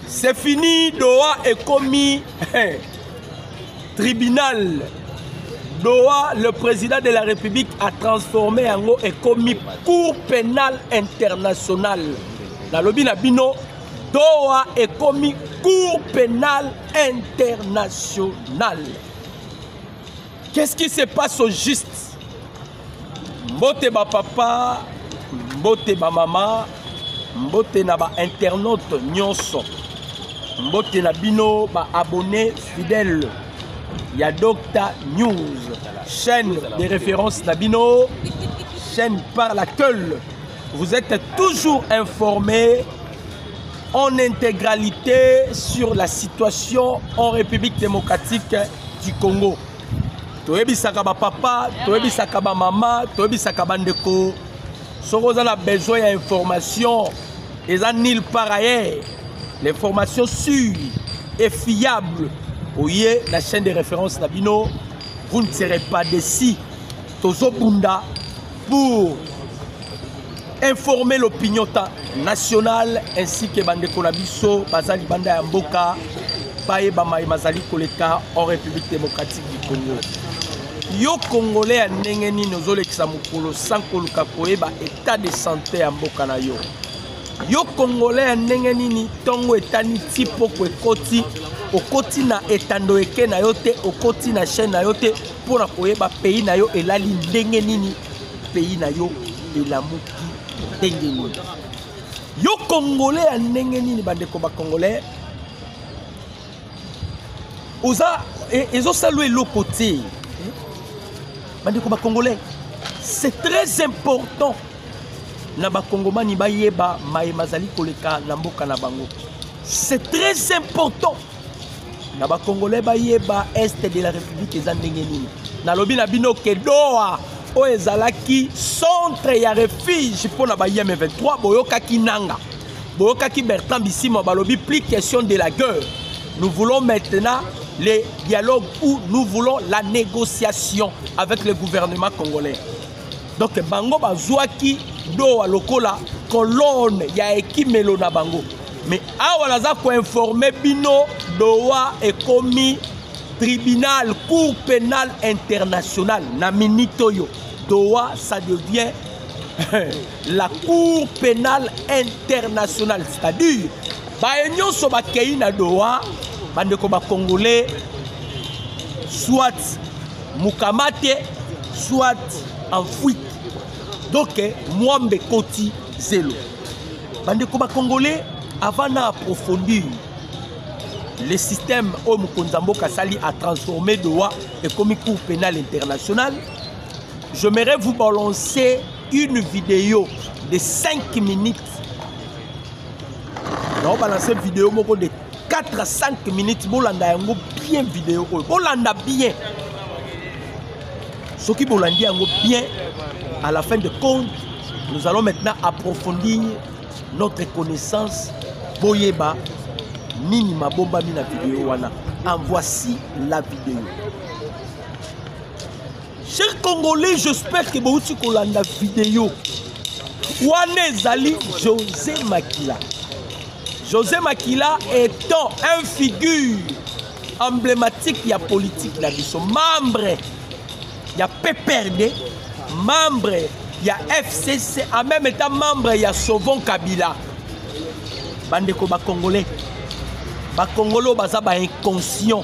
c'est fini doha ekomi tribunal doha le président de la république a transformé yango ekomi cour pénale internationale nalobi na bino doha ekomi cour pénale internationale Qu'est-ce qui se passe au juste Mbote ba papa, mbote ba mama, mbote na ba internautes nyonso. Mbote na bino ba abonnés fidèles ya Docta News, chaîne de référence na bino, chaîne par laquelle vous êtes toujours informés en intégralité sur la situation en République démocratique du congo toyebisaka bapapa toyebisaka bamama toyebisaka bandeko soki oza na besoin ya information eza nil par ailleurs l'information sur et fiable oye na chaîne de référence na bino vous ne serez pas décis tozobunda pour informer l'opinion nationale ainsi que bandeko na biso baza libanda ya mboka bayeba maye mazali koleka en république démocratique du congo yo congolais ya ndenge nini ozolekisa mokolo sans koluka koyeba état de santé ya mboka na yo yo congolais ya ndenge nini ntongo etani ti poko ekoti okoti na etando eke na yo te okoti na chaîne na yo te mpo na koyeba pays na yo elali ndenge nini pays na yo elamuki ndenge nini yo congolais ya ndenge nini bandeko bacongolais oza e, ezosala eloko te bandeko bacongolais c'est très important na bakongomani bayeba maye mazali koleka na mboka na bango c'est très important na ba congolais bayeba est de la république eza ndenge nini nalobi na bino ke doha oyo ezalaki centre ya refuge mpo na bayem 23 boyokaki nanga boyokaki bertrand bisima balobi plus question de la guerre nous voulons maintenant le dialogue où nous voulons la négociation avec le gouvernement congolais donc bango bazwaki dowa lokola kolone ya ekimelo na bango me awa naza koinforme bino dowa ekomi tribunal cour pénal international na minute oyo dowa ça devient la cour pénale internationale c'est-à-dire baye nyonso bakei na doha bandeko bacongolais soit mukamate soit en fuite donc mwambe koti zelo bandeko bacongolais avant na approfondir le système oyo mokonzi ya mboka asali atransforme doha ekomi cour pénal international j'aimerais vous balancer une vidéo de 5 minutes naobalancer video moko de 4 à 5 minutes bolanda yango bien video oyo bolanda bien soki bolandi yango bien à la fin de compte nous allons maintenant approfondir notre connaissance boyeba nini mabombami na video wana en voici la video Cher Congolais, j'espère que bouti kolanda vidéo. Wana ezali José Makila. José Makila étant un figure emblématique ya politique na biso, membre ya PPRD, membre ya FCC, en même étant membre ya Sauvons Kabila. Bandeko ba Congolais, ba Congolais baza ba inconscients.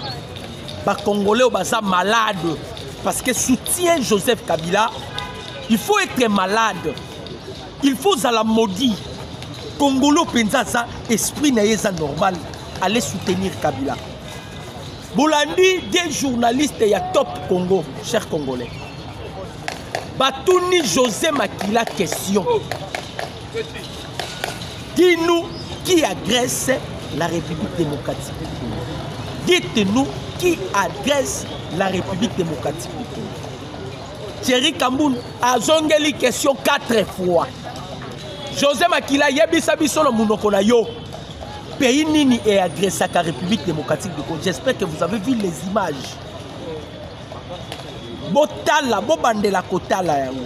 ba congolais oyo baza malade parce que soutien joseph kabila il faut être malade il faut ozala maudit congolo mpenza aza esprit na ye eza normal ale soutenir kabila bolandi de journaliste ya top congo cher congolais batuni josé makila question Dis-nous qui agresse la République démocratique du Congo. Dites-nous qui agresse la République démocratique du Congo. Thierry Kamboun azongeli question 4 fois. José Makila yebisa biso na munoko na yo. Pays nini est agressé la République démocratique du Congo. J'espère que vous avez vu les images. Botala, bobandela kotala yango.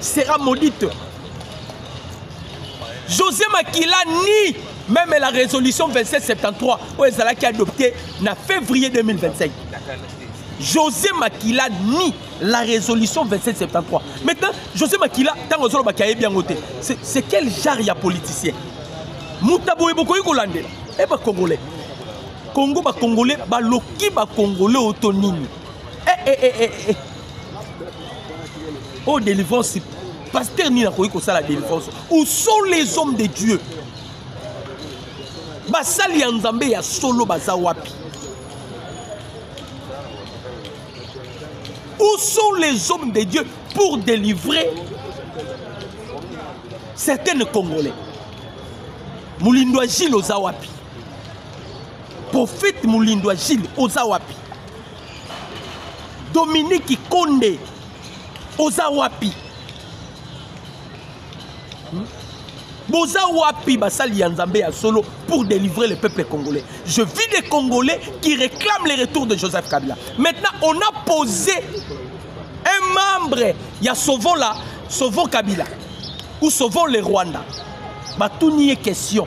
sera maudite josé makila ni même la résolution 2773 oyo ezalaki adopté na février 2025 josé makila ni la résolution 2773 maintenant josé makila ntango ozolobaki ayebi yango te c'est quel genre ya politicien moto boye bokoki kolandela e eh, bacongolais congo bacongolais baloki bacongolais oyo to nini eh, eh, eh, eh. oyo oh, délivrance paster nini akoki kosala délivrance où sont les hommes de dieu basali ya nzambe ya solo baza wapi où sont les hommes de dieu pour délivrer certaines congolais molindwa gile oza wapi prophète molindwa gile oza wapi Dominique Konde oza wapi hmm? boza wapi basali ya nzambe ya solo pour délivrer le peuple congolais je vis des congolais qui réclament le retour de joseph kabila maintenant on a posé un membre ya sauvons la sauvons kabila ou sauvons le rwanda batuni ye question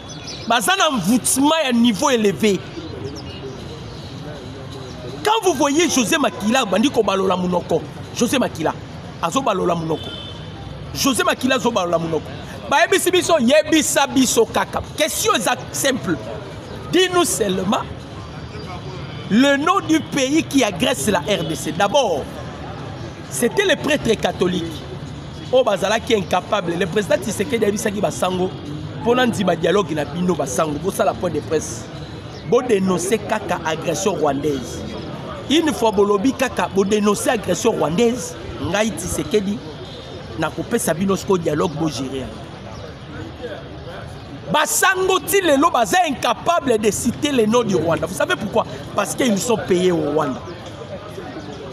baza na envoûtement ya niveau élevé quand vous voyez josé makila abandi kobalola monoko josé makila azobalola monoko josé makila azobalola monoko bayebisi biso yebisa biso kaka question eza simple dis nous seulement le nom du pays qui agresse la rdc d'abord C'était le prêtre catholique oyo bazalaki incapable le président Tshisekedi ayebisaki basango mpo na nzima dialogue na bino basango bosala point de presse bodenonse kaka agression rwandaise une fois bolobi kaka bodenonse agression rwandaise ngai Tshisekedi nakopesa bino sikoyo dialogue bogere yango basango ti lelo baza incapable de citer le nom du rwanda vous savez pourquoi parce qu'ils sont payés au rwanda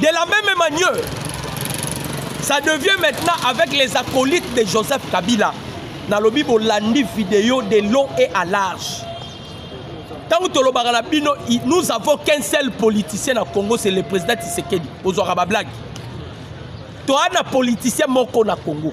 De la même manière, ça devient maintenant avec les acolytes de Joseph Kabila. nalobi bolandi video de long et à large ntango tolobaka na bino nous avons qu'un seul politicien na congo c'est le président tisekedi ozwaka bablage toa na politicien moko na congo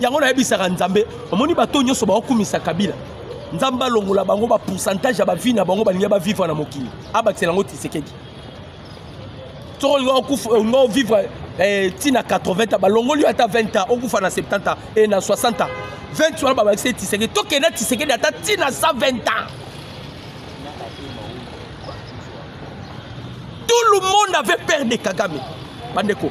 yango nayebisaka nzambe omoni bato nyonso baokumisa kabila nzambe alongola bango bapourcentage ya bavi na bango balingi bavivre na mokili abakisela yango tisekedi soko olinga olinga ovivre ntina 80 balongoli yo ata 20 ans okufa na 70 ans e na 60 ans 20 wana babakisi tisekedi tokende na tisekedi ata ntina 120 ans tout le monde avait peur de kagame bandeko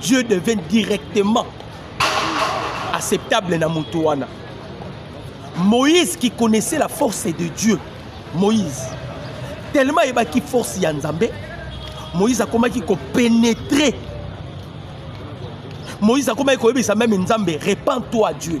Dieu devient directement acceptable na moto wana. Moïse qui connaissait la force de Dieu, Moïse, tellement ayebaki force ya Nzambe, Moïse akomaki ko pénétrer. Moïse akomaki koyebisa même Nzambe, repends-toi Dieu.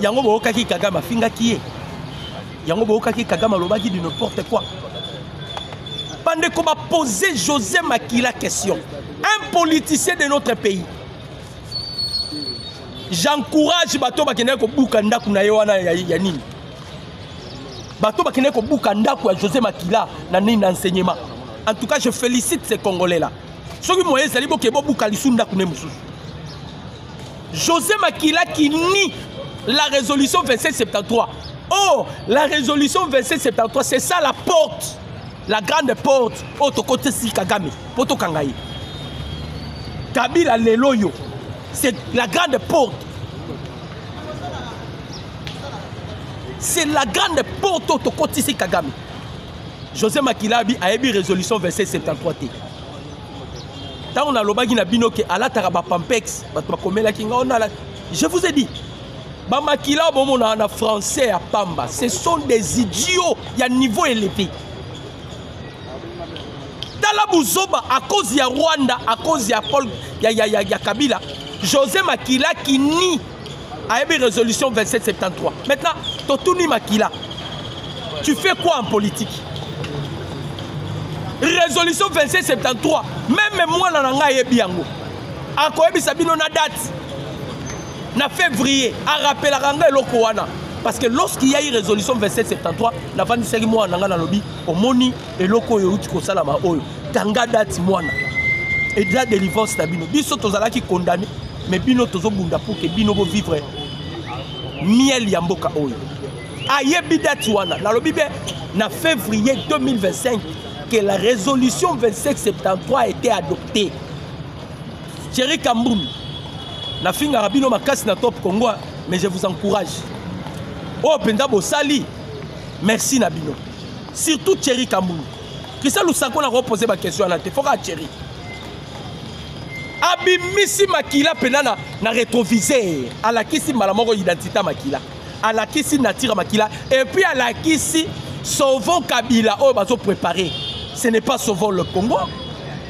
yango boyokaki kagame afingaki ye yango boyokaki kagame alobaki du n'importe quoi bandeko bapose josé makila question un politicien de notre pays j'encourage bato bakendaki kobuka ndako na ye wana ya, ya nini bato bakendaki kobuka ndako ya josé makila na nini na enseignement en tout cas je félicite ce congolais là soki moye ezali boke bobuka lisu ndako ne mosusu José Makila qui nie la résolution 2773. Oh, la résolution 2773, c'est ça la porte, la grande porte. Oh, toko tesi Kagame, poto kangaye. Kabila leloyo, c'est la grande porte. C'est la grande porte oh, toko tesi Kagame. José Makilabi a émis résolution 2773. ntango nalobaki na bino ke alataka bapampex bato bakomelaki ngai onala je vous ai dit bamakila bomona na français ya pamba ce sont des idiots ya niveau élevé tala buzoba à cause ya rwanda à cause ya paul ya, ya, ya, ya kabila josé makila kini ayebi résolution 2773 maintenant totuni makila tu fais quoi en politique résolution 2773 meme mwana na ngai ayebi yango akoyebisa bino na date na février arapelaka ngai eloko wana parce que lorsqu'il y a eu résolution 2773 navandisaki mwana na ngai nalobi omoni eloko oyo euti kosalama oyo tanga dati mwana eza delivrance na bino biso tozalaki condamne mais bino tozobunda pour ke bino bovivre miel ya mboka oyo ayebi dati wana nalobi be na février 2025 que la résolution 2773 a été adoptée thierry kambum nafingaka bino makasi na top congo mais je vous encourage oyo oh, mpenza bosali merci na bino surtout Thierry Kambulu Christian Lusanko na ko poser ba question na te faut ka Thierry abimisi makila pena na, na retroviseur alakisi mbala moko identité makila alakisi nature makila et puis alakisi sauvons Kabila oyo bazo préparer ce n'est pas sauvons le Congo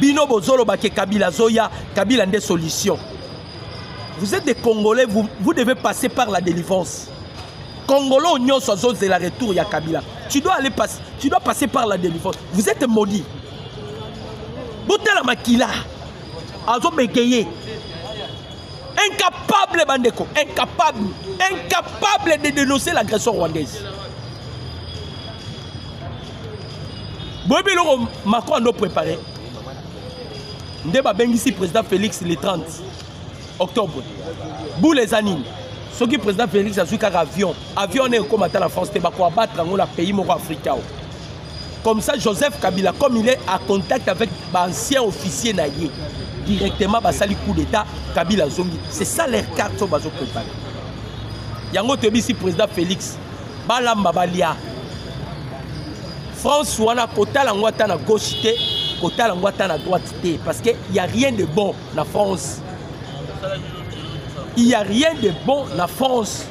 bino bozoloba ke kabila azoya kabila nde solution vous êtes des congolais vous, vous devez passer par la délivrance congolais oyo nyonso azozela retour ya kabila tu dois aller passe, tu dois passer par la délivrance vous êtes maudit botala makila azobegeye incapable bandeko incapable incapable de dénoncer l'agression rwandaise boyebi eloko macron ando prépare nde babengisi président félix le 30 octobre boule eza nini soki président félix azwi kaka avion avion wana ekoma ata na france te bakoabattre yango na pays moko afrika o comme ça joseph kabila comme il est à contact avec baancien officier na ye directement basali coup d'état kabila azongi c'est ça leur carte oyo bazo prépare yango toyebisi président félix balamba balia france wana kotala yango ata na gauche te kotala yango ata na droite te parce que y a rien de bon na france il y a rien de bon na france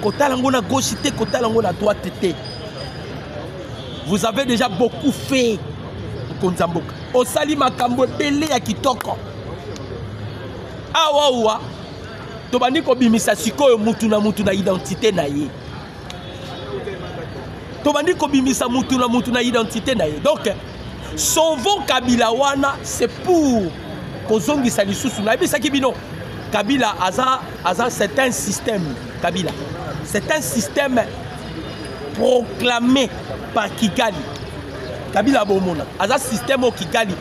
kotala yango na gauche te kotala yango na droite te vous avez déjà beaucoup fait mokonzi ya mboka osali makambo ebele ya kitoko awawa tobandi kobimisa sikoyo mutu na mutu na identité na ye tobandi kobimisa mutu na mutu na identité na ye donc sauvons kabila wana c'est pour kozongisa lisusu nayebisaki bino kabila aza aza c'est un système kabila c'est un système proclamé par kigali kabila bomona aza système oyo kigali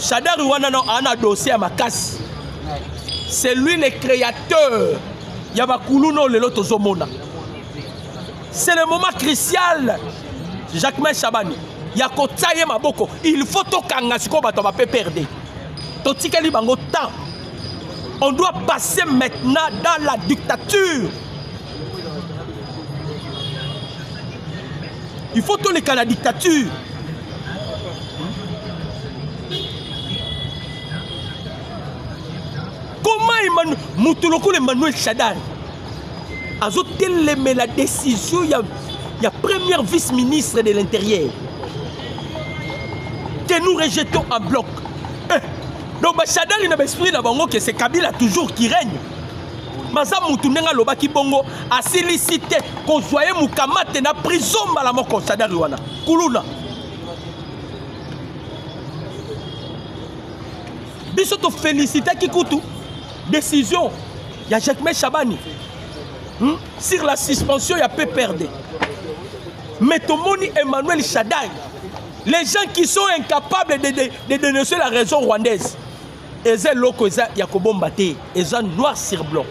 Shadari wana non ana dossier ya makasi. C'est lui le créateur ya bakulu no lelo tozomona. C'est le moment crucial Jacquemin Shabani ya kotia ye maboko il faut tokanga sikoyo bato ya bapperde totikeli bango temps on doit passer maintenant dans la dictature il faut toleka na dictature comment moto lokola emmanuel shadari azotelemela décision ya, ya première vice ministre de l'intérieur que nous rejetons en bloc eh, donc bashadari na baesprit na bango que c'est kabila toujours qui règne baza mutu ndenge alobaki bongo asilisi te kozwa ye mokamate na prison mbala moko sadari wana kuluna biso tofelisitaki kutu décision ya jacquemain chabani hmm? sur la suspension ya pprd mais tomoni emmanuel shadai les gens qui sont incapables de, de, de dénoncer la raison rwandaise eza eloko eza ya kobomba te eza noir sur blanc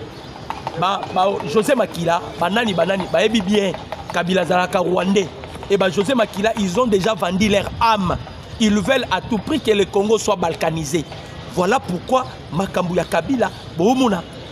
ba, ba josé makila banani banani bayebi bien kabila azalaka rwandais et ba josé makila ils ont déjà vendu leur âme ils veulent à tout prix que le congo soit balkanisé voilà pourquoi makambo ya kabila boomona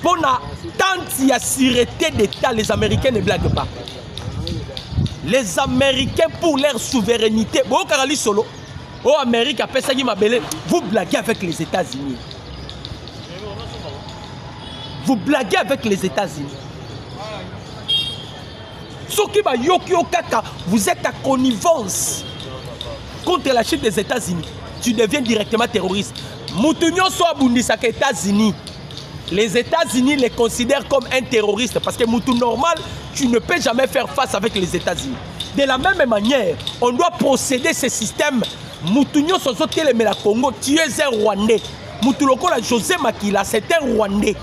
mpo na tente ya sûreté d'état les américains ne blague pas les américains pour leur souveraineté boyokaka lisolo oyo amérique apesaki mabele vous blaguez avec les états-unis vous blaguez avec les états-unis soki bayoki yo kaka vous êtes à connivence contre la chute des états-unis tu deviens directement terroriste moto nyonso abundisaka états-unis Les États-Unis les considèrent comme un terroriste parce que Moutou normal, tu ne peux jamais faire face avec les États-Unis. De la même manière, on doit procéder ce système. Moutou Nyoso Telemela Congo, tu es un Rwandais. Moutou Lokola José Makila, c'est un Rwandais.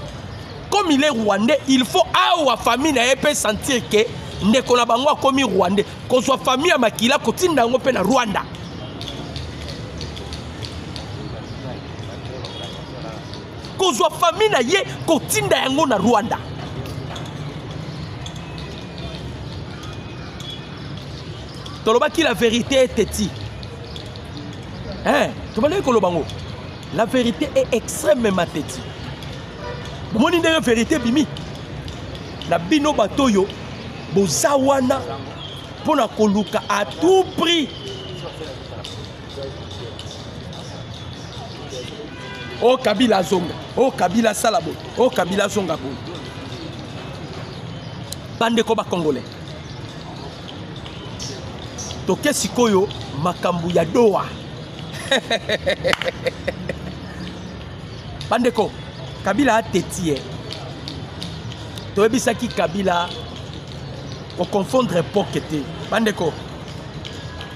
Comme il est Rwandais, il faut awa famille na peut sentir que ndeko na bango akomi Rwandais. Qu'on soit famille à Makila, kotinda ngo pe na Rwanda. kozwa famille na ye kotinda yango na rwanda tolobaki la vérité est eti eh, tobandaki koloba ngo la vérité est extrêmement teti bomoni ndenge vérité bimi na bino bato oyo boza wana mpo na koluka à tout prix o oh, kabila azonga o oh, kabila asala boye o oh, kabila azonga boye bandeko bakongole toke sikoyo makambo ya doa bandeko kabila ateti ye toyebisaki kabila koconfondre poke te bandeko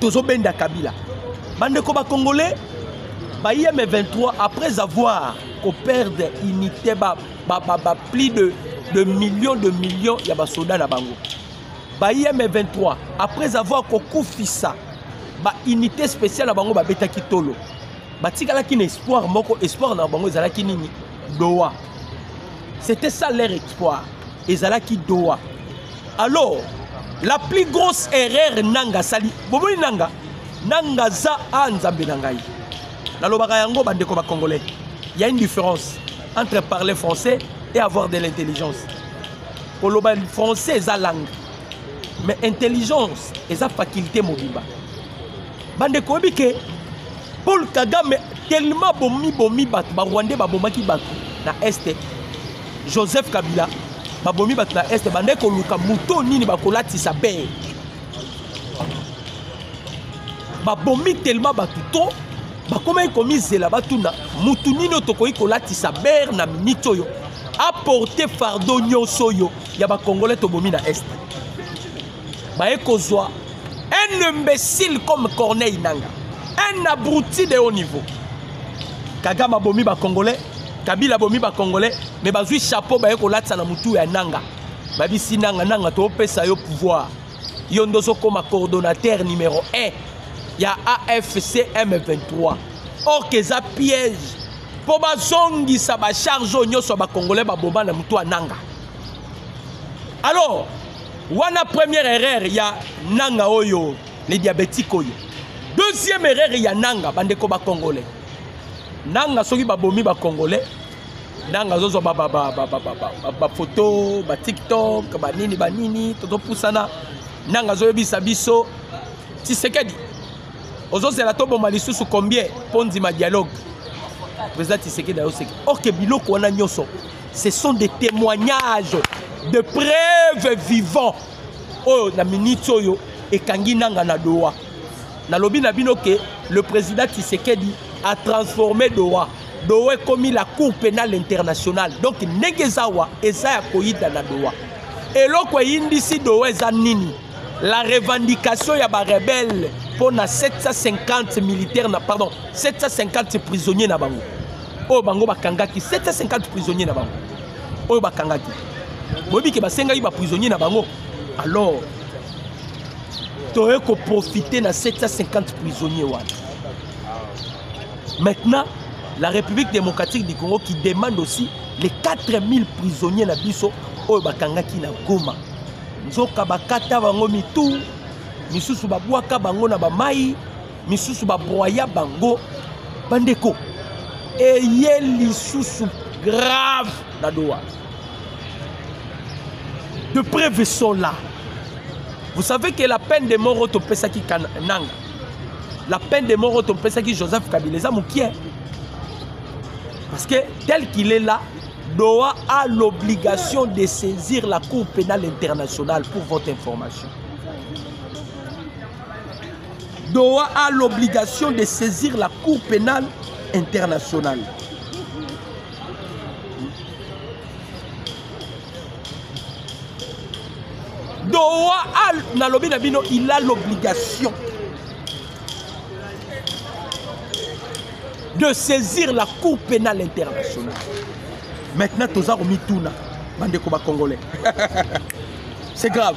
tozobenda kabila bandeko bacongolais baim 23 après avoir koperdre unité ba, ba, ba, ba plus de, de millions de millions ya basoda na bango baim 23 après avoir kokufisa baunité spéciale na bango babetaki tolo batikalaki na espoir moko espoir na bango ezalaki nini doha c'était ça leur exploit ezalaki doha alors la plus grosse erreur nanga asali bomoni nanga nanga aza a nzambe na ngai nalobaka yango bandeko bacongolais il y a une différence entre parler français et avoir de l'intelligence koloba français eza langue mais intelligence eza faculté mobimba bandeko oyebi ke paul kagame tellement bomi bomi bato barwandais babomaki bato na este joseph kabila babomi bato na este bandai koluka moto nini bakolatisa bee babomi telema bato to bakomaki komizela batuna motu nini oyo tokoki kolatisa bere na miniti oyo aporte fardo nyonso oyo ya bakongole tobomi na este baye kozwa un imbécile comme corneille nanga un abruti de haut niveau kagame abomi bacongolais kabila abomi bacongolais me bazwi chapeau baye kolatisa na motu ya nanga babisi nanga nanga topesa yo pouvoir yo nde ozokoma coordonnateur numero 1 ya afcm 23 or ke eza piège mpo bazongisa bacharge oyo nyonso ya bacongolais baboma na motu ya nanga alors wana première erreur ya nanga oyo le diabétique oyo deuxième erreur ya nanga bandeko bacongolais nanga soki babomi bacongolais nanga azozwa bafoto batiktok banini banini tozopusana nanga azoyebisa biso tisekedi ozozela toboma lisusu combien mpo ndima dialogue président tisekedi ayoseki orke biloko wana nyonso ce sont des témoignages de preuve vivant oyo na minute oyo ekangi nanga na doha nalobi na bino ke le président tshisekedi a transformé doha doha ekomi la cour pénale internationale donc ndenge eza awa eza ya koyida na doha eloko eyindisi doha eza nini la revendication ya barebele mpo na 750 militaire na pardon 750 prisonnier na bango oyo bango bakangaki 750 prisonnier na bango oyo bakangaki boyebi ke basengaki baprisonnier na bango alors toye koprofite na 750 prisonnier wana maintenant la république démocratique du congo qui demande aussi les 4000 prisonniers na biso oyo bakangaki na goma nzoka bakata bango mitu misusu babwaka bango na bamai misusu babroya bango bandeko eye lisusu grave na doa de preuve sont là vous savez que la peine de mort oyo topesaki nanga la peine de mort oyo topesaki joseph kabila eza mokie parce que tel qu'il est là doha a l'obligation de saisir la cour pénale internationale pour votre information Doha a l'obligation de saisir la Cour pénale internationale. Doha a, nalobi na bino, il a l'obligation de saisir la Cour pénale internationale. Maintenant, toza komituna, bandeko ba Congolais. C'est grave.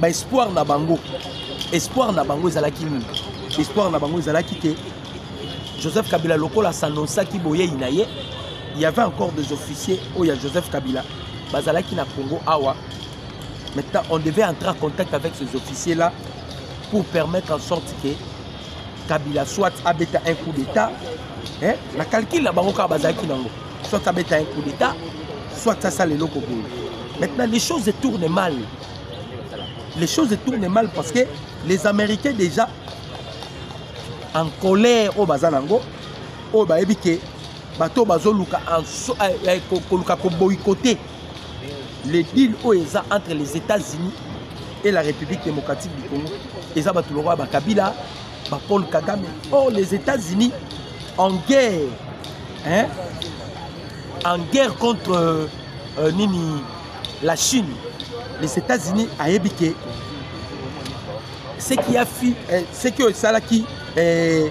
ba espoir na bango espoir na bango ezalaki nini espoir na bango ezalaki ke joseph kabila lokola sanonsaki boyei na ye il y avait encore des officiers oyo ya joseph kabila bazalaki na congo awa maintenant on devait entrer en contact avec ces officiers là pour permettre en sorte que kabila soit abeta un coup d'état eh? na calcule na bango kaka bazalaki nango soit abeta un coup d'état soit asala eloko boye maintenant les choses tournent mal les choses tournent mal parce que les américains déjà en colère oyo baza nango oyo bayebi ke bato oyo bazoluka eh, eh, koluka koboycote le deal oyo eza entre les états-unis et la république démocratique du congo eza bato lokola bakabila ba Paul Kagame oh les États-Unis en guerre hein en guerre contre euh, euh, nini la Chine les États-Unis ayebi ke ce qui a fi eh, ce qui esalaki eh,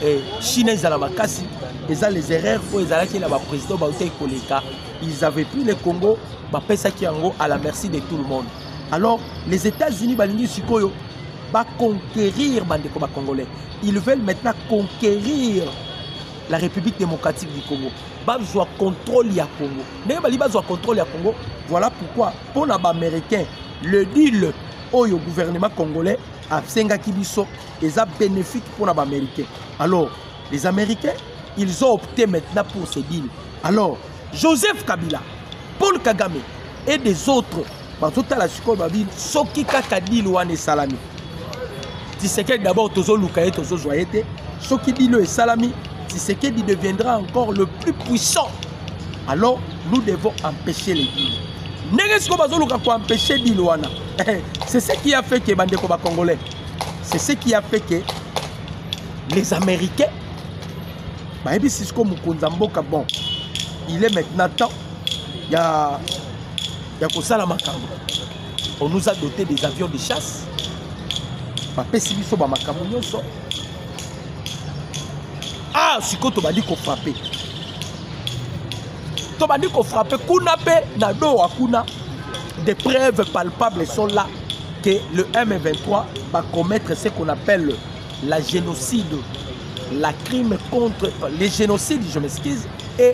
eh, Chine ezala makasi eza les erreurs oyo ezalaki na baprésident bautaki koleka ils avaient pris le congo bapesaki yango à la merci de tout le monde alors les états-unis balingi sikoyo ba conquérir bandeko ba congolais ils veulent maintenant conquérir la république démocratique du congo bazwa contrôle ya congo ndenge balingi bazwa contrôle ya congo voilà pourquoi mpo na baaméricain le deal oyo gouvernement congolais asengaki biso eza bénéfique mpo na baaméricain alors les américains ils ont opté maintenant pour ce deal alors joseph kabila paul kagame et des autres bazotala sikoyo babi soki kaka dile wana esalami tisekedi d'abord tozoluka ye tozozwa ye te soki dile oyo esalami tisekedi deviendra encore le plus puissant alors nous devons empêcher les dile ndenge sikoyo bazoluka koempêche dile wana eh, c'est ce qui a fait que bandeko bacongolais c'est ce qui a fait que les américains bayebisi sikoyo mokonzi ya mboka bon il est maintenant temps ya ya kosala makambo on nous a doté des avions de chasse bapesi biso bamakambo nyonso ah sikoyo tobandi kofrape tobandi kofrape kuna mpe na doha kuna des preuves palpables sont là que le M23 va commettre ce qu'on appelle la génocide, la crime contre les génocides, je m'excuse, et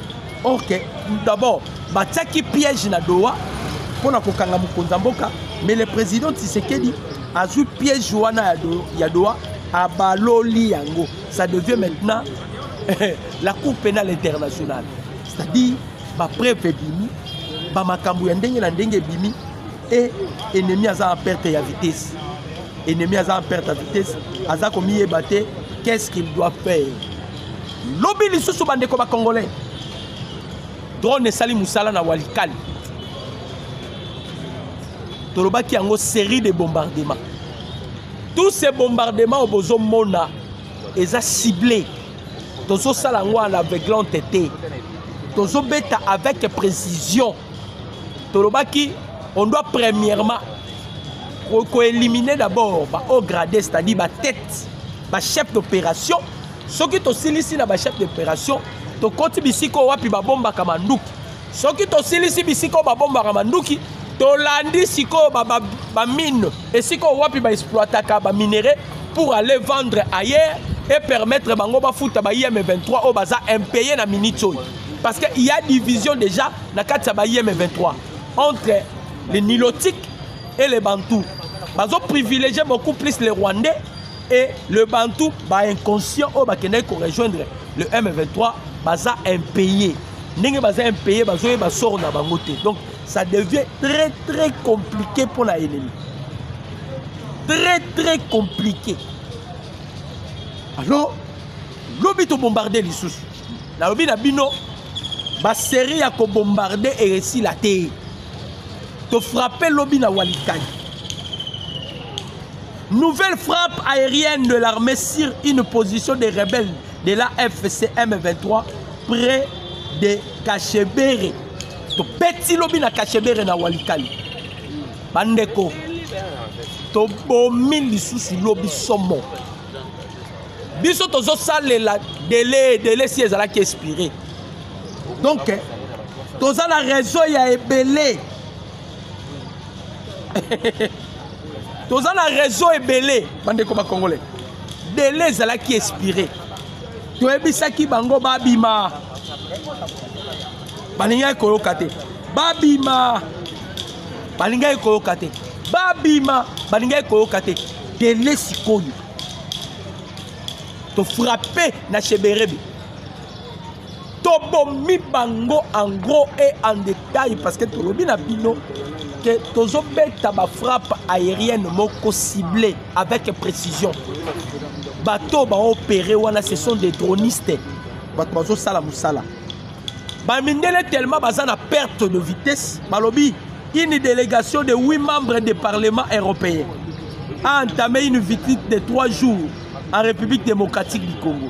ok d'abord batiaki piège na doha mpo na kokanga mokonzi ya mboka mais le président tisekedi azwi piège wana ya, do, ya doha abaloli yango ça devient maintenant la cour pénale internationale c'est-à-dire bapreuve ebimi bamakambo ya ndenge na ndenge ebimi e ennemi aza en perte ya vitesse ennemi aza en perte ya vitesse aza komiyeba te qu'est ce qu'il doit faire Lobi lisusu bandeko ba Congolais. Drone esali musala na Walikali. Tolobaki yango série de bombardements. Tous ces bombardements au bozo mona eza ciblé. Tozo sala yango à l'aveuglante te. Tozo beta avec précision. Tolobaki on doit premièrement koéliminer d'abord ba haut gradé c'est-à-dire ba tête ba chef d'opération soki tosilisi na bachef d'opération tokoti bisika oyo wapi babombaka manduki soki tosilisi bisika oyo babombaka manduki tolandi sikoyo bamine ba, ba esika oyo wapi baexploitaka baminere pour aller vendre ailleurs et permettre bango bafuta ba im 23 oyo baza impaye na minute oyo parce que il y a division déjà na kati ya ba im 23 entre les nilotiques et les bantous bazo privilégier beaucoup plus les rwandais et le bantou ba inconscient oyo bakendaki ko rejoindre le m23 baza impayé ndenge baza impayé bazoyeba sort na bango te donc ça devient très très compliqué mpo na elemi très très compliqué alors lobi tobombarde lisusu nalobi na bino baserie ya kobombarde eresila te tofrape lobi na walikani Nouvelle frappe aérienne de l'armée sur une position des rebelles de la FCM 23 près de Kachebere. topeti lobi na kachebere na walikali bandeko tobomi lisusu lobi somo biso tozosalela dele dele si ezalaki expire donc toza na réseau ya ebele toza na réseau ebele bandeko bacongolais dele ezalaki expire toyebisaki bango babima balingaki koyoka te babima balingaki koyoka te babima balingaki koyoka te dele sikoyo tofrape na sheberebe tobomi bango en gros et en détail parce que tolobi na bino ke tozobeta bafrappe aérienne moko cible avec précision bato baopere wana ce sont des dronistes bato bazosala mosala bamindele tellement baza na perte de vitesse balobi une délégation de 8 membres du parlement européen a entamé une visite de 3 jours en république démocratique du congo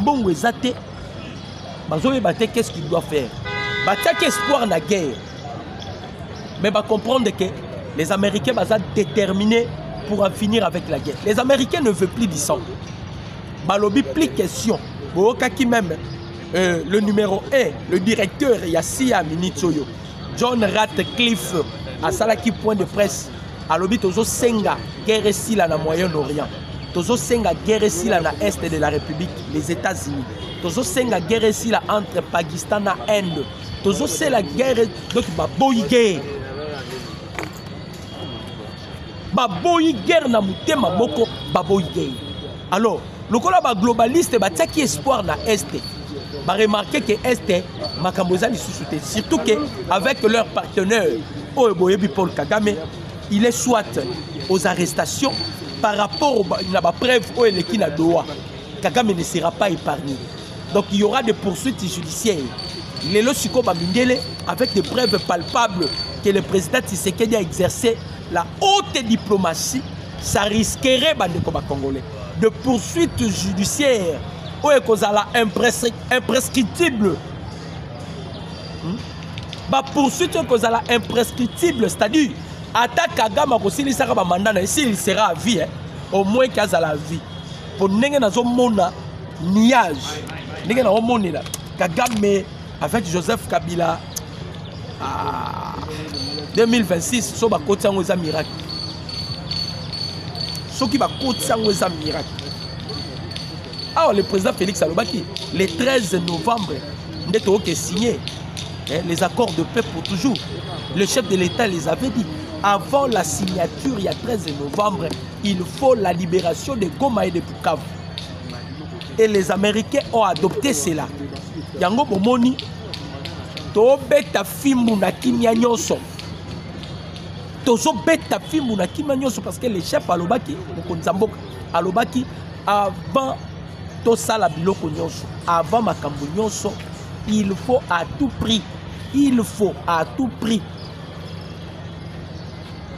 mbongo eza te bazoyeba te qu'est ce qu'il doit faire batiaki espoir na guerre mais bacomprendre que les américains baza déterminés pour en finir avec la guerre les américains ne veut plus du sang balobi plus question boyokaki même euh, le numéro 1 le directeur ya sia minute oyo john ratcliffe asalaki point de presse alobi tozosenga guerre esila na moyen orient tozosenga guerre esila na est de la république les états-unis tozosenga guerre esila entre pakistan na inde tozosela guerre donc baboyi guerre baboyi guerre na motema moko baboyi guerre alors lokola ba globaliste batiaki espoir na este baremarke ke este makambo eza lisusu te surtout ke avec leur partenaire oyo boyebi paul kagame il est soit aux arrestations par rapport na bapreuve oyo eleki na doha kagame ne sera pas épargné donc il y aura des poursuites judiciaires lelo sikoyo bamindele avec des preuves palpables que le président tisekedi a exercé la haute diplomatie ça risquerait bandeko bacongolais de poursuite judiciaire oyo ekozala imprescriptible hmm? bapoursuite oyo ekozala imprescriptible c'est-à-dire ata kagame akosilisaka bamanda na ye s'il sera à vie eh? au moins ke azala à vie mpo ndenge nazomona nuage ndenge naomonela kagame avec joseph kabila ah, 2026 so bakoti yango eza miracle soki bakoti yango eza miracle awa ah, le président félix alobaki le 13 novembre nde toyoke signe eh, les accords de paix pour toujours le chef de l'état les avait dit avant la signature il y a 13 novembre il faut la libération de goma et de bukavu et les américains ont adopté cela yango bomoni tobeta fimbu na kimia nyonso tozobeta fimbu na kimia nyonso parce que le chef alobaki mokonzi ya mboka alobaki avant tosala biloko nyonso avant makambo nyonso il faut à tout prix il faut à tout prix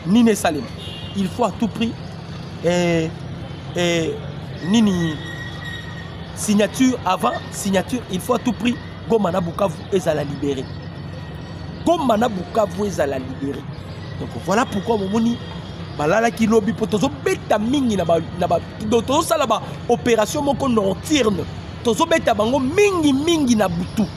nini esalema il faut à tout prix eh, eh, nini signature avant signature il faut à tout prix goma na bukavu ezala libéré goma na bukavu ezala libéré donc voilà pourquoi momoni balalaki lobi mpo tozobeta mingi tozosala baopération moko nocturne tozobeta bango mingi mingi na butu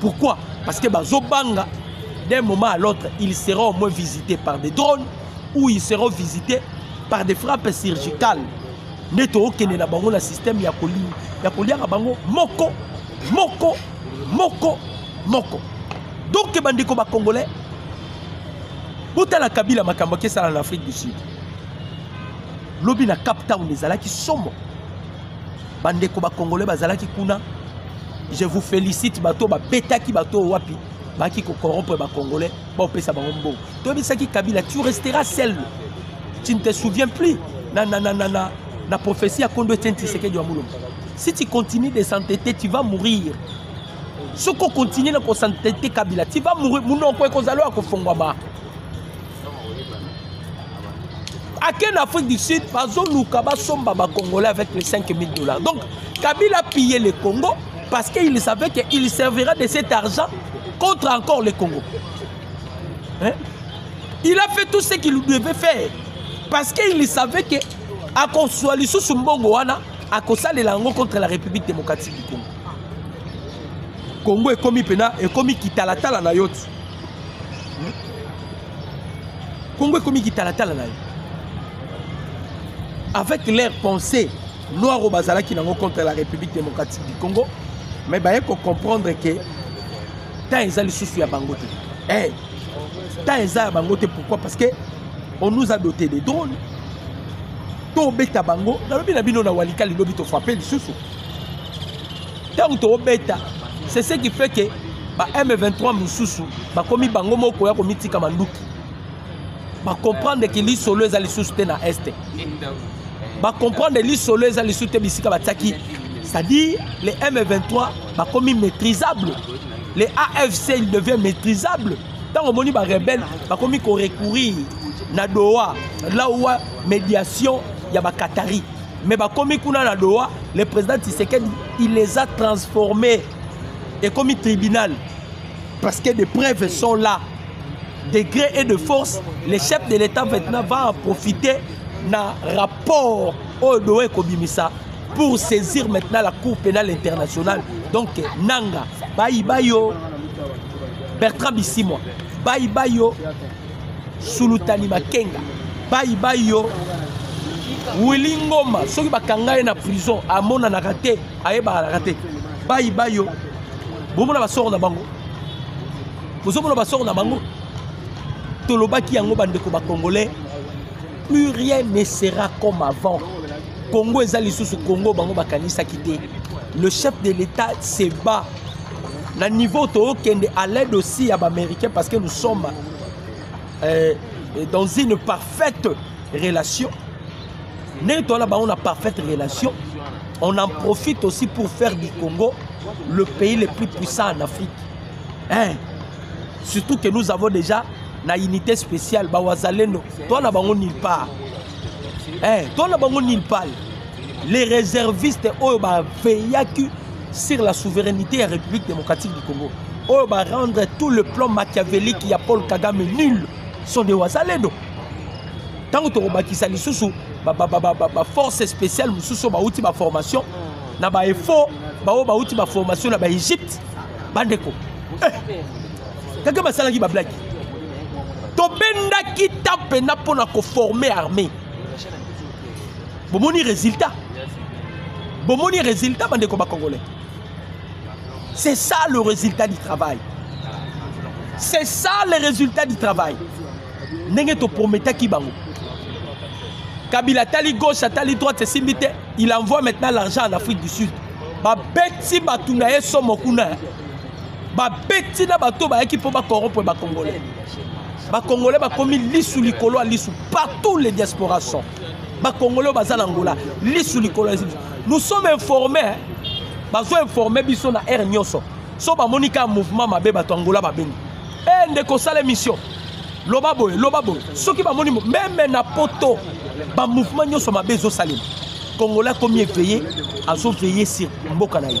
Pourquoi Parce que bazo banga d'un moment à l'autre, ils seront au moins visités par des drones ou ils seront visités par des frappes surgicales. nde tookende na bango na système ya kolia ya koliaka bango moko moko moko moko donk bandeko bacongolais botala kabila makambo akesala na afrique du sud lobi na cap town ezalaki somo bandeko bakongole bazalaki kuna je vous félicite bato babetaki bato oyo wapi baki kokorompre bacongolais baopesa bango mbongo toyebisaki kabila tu restera seul tu ne te souviens plus na, na, na, na, na, na prophétie ya kondo etienne tisekedi ya molombo si tu continues de s'entêter tu vas mourir soki okontinue na kosantete kabila ti va mourir munoko ekozala oyo akofongwama ake na afrique du sud bazoluka basomba bacongolais avec les 5000 dollars donc kabila pille le congo parce qu'il savait qu'il servira de cet argent contre encore le congo hein? il a fait tout ce qu'il devait faire parce qu'il savait que akozwa lisusu mbongo wana akosalela yango contre la république démocratique du congo congo ekomi mpena ekomi kitalatala na yo ti Congo est comme qui tala tala là. Avec leur pensée, noir au bazala qui n'ont contre la République démocratique du Congo, mais bah faut comprendre que tant ils allaient sous ya bangote. Eh, tant ils allaient bangote pourquoi Parce que on nous a doté des drones. To beta bango, na lobi na bino na walikali lobi to frapper lisusu. ntango tokobeta c'est ce qui fait que ba m23 mosusu bakomi bango moko koya komitika manduki bacomprendre ke lisolo eza lisusu te na este bacomprendre lisolo eza lisusu te bisika batiaki c'est-à-dire les m23 bakomi maîtrisable les afc il devient maîtrisable ntango omoni barebele bakomi korecourir na doha lawa médiation ya bacatari mais bakomi kuna na doha le président tisekedi il les a transformé ekomi tribunal parce que des preuves sont là degré et de force le chef de l'état maintenant va en profiter na rapport oyo doha ekobimisa pour saisir maintenant la cour pénale internationale donc nanga bayiba yo bertrand bisimwa bayiba yo sulutani makenga bayi bayi yo wili ngoma soki bakanga ye na prison amonanaka te ayebakanaka te bayi bayi yo bomona basoko na bango bozomona basoko na bango tolobaki yango bandeko bacongolais plus rien ne sera comme avant congo eza lisusu congo bango bakanisaki te le chef de l'état se bat na niveau tookende à l'aide aussi ya baaméricain parce que nous sommes euh, dans une parfaite relation ndenge toala bango na parfaite relation on en profite aussi pour faire du congo le pays le plus puissant en afrique hein? surtout que nous avons déjà na unité spéciale ba wazalendo toi na bango nulle part eh toi na bango nulle part les réservistes oyo ba veillaki sur la souveraineté ya République démocratique du Congo oyo ba rendre tout le plan machiavélique ya Paul Kagame nul sont des wazalendo ntango tokobakisa lisusu baforce spéciale mosusu bauti baformation na baeffort baoyo bauti baformation na baegypte bandeko eh. kaka basalaki bablaki tobendaki ta mpenza mpo na koforme armée bomoni résultat bomoni résultat bandeko bacongolais c'est ça le résultat du travail c'est ça le résultat du travail ndenge toprometaki bango kabila atali gauche atali droite esimbi te il envoie maintenant l'argent en afrique du sud babeti bato na ye somo kuna babeti na bato bayaki mpo bakorompre bacongolais bacongolais bakomi lisu likolo ya lisu partout les diaspora sont bacongolais oyo baza na ngola lisu likolo ya lisu nous sommes informés bazo informe biso na aire nyonso so bamoni kaka mouvement mabe bato ya ngola babengi e eh, ndeko osala émission loba boye loba boye soki bamoni meme na poto bamouvement nyonso mabe ezosalema congolais akomi eveye azoveille sur mboka na ye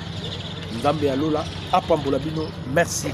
nzambe ya lola apambola bino merci